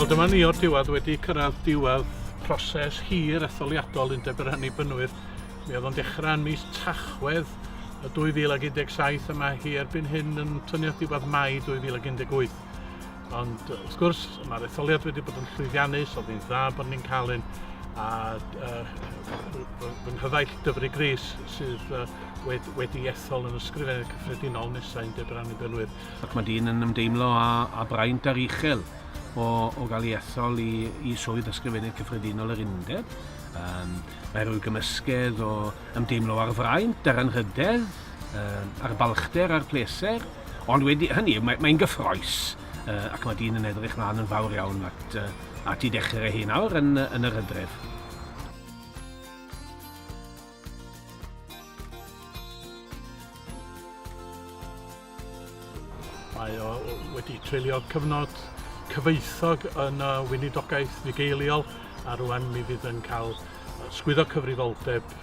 Wel dyma ni o'r diwedd wedi cyrraedd diwedd proses hir etholiadol Undeb yr Hynny Bynwydd. Mi oedd o'n dechrau yn mis Tachwedd y 2017 a mae hi erbyn hyn yn tynnu at diwedd Mai 2018. Ond wrth gwrs, mae'r etholiad wedi bod yn llwyddiannus, oedd hi'n dda bod ni'n cael un, a fy nghyfaill Dyfri Gris sydd wedi, wedi ethol yn ysgrifennydd cyffredinol nesau yn Debyr Annibenwyr. Ac mae dyn yn ymdeimlo a, a braint ar uchel o, o gael ei ethol i, i swydd ysgrifennydd cyffredinol yr undeb. Um, Mae rhyw gymysgedd o ymdeimlo ar fraint, ar anrhydedd, ar balchder, ar pleser, ond wedi hynny, mae'n mae gyffroes, ac mae dyn yn edrych mlaen yn fawr iawn at, at i dechrau hyn awr yn, yn yr hydref. Mae o wedi treulio cyfnod cyfoethog yn y weinidogaeth fugeiliol a rwan mi fydd yn cael sgwyddo cyfrifoldeb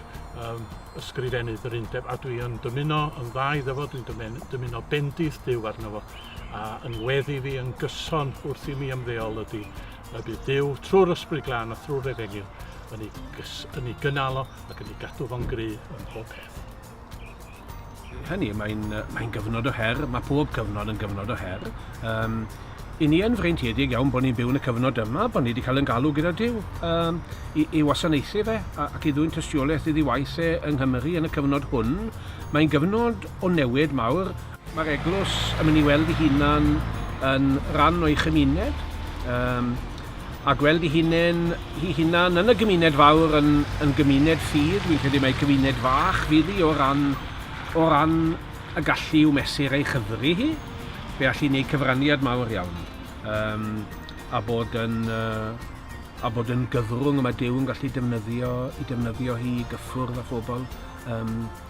um, ysgrifennydd yr undeb a dwi yn dymuno yn dda iddo fo, dwi'n dymuno bendith Dyw arno fo a yn weddi fi yn gyson wrth i mi ymddeol ydy y bydd Dyw trwy'r ysbryd glân a thrwy'r efengyl yn ei, gys, yn ei gynalo ac yn ei gadw fo'n gry ym mhob peth. Hynny, mae'n mae gyfnod o her, mae pob cyfnod yn gyfnod o her. Um, I ni yn freintiedig iawn bod ni'n byw yn y cyfnod yma, bod ni wedi cael yn galw gyda Dyw um, i, i wasanaethu fe ac i ddwy'n tystiolaeth iddi waith e yng Nghymru yn y cyfnod hwn. Mae'n gyfnod o newid mawr Mae'r eglwys yn mynd i weld ei hunan yn ran o'i chymuned, um, a gweld ei hunain, ei hunan yn y gymuned fawr, yn, yn gymuned ffydd, dwi'n credu mae cymuned fach fydd hi o ran, o ran y gallu i'w mesur ei chyfri hi, fe all i wneud cyfraniad mawr iawn, um, a bod yn, uh, a bod yn gyfrwng y mae Dyw yn gallu defnyddio i defnyddio hi i gyffwrdd â phobl um,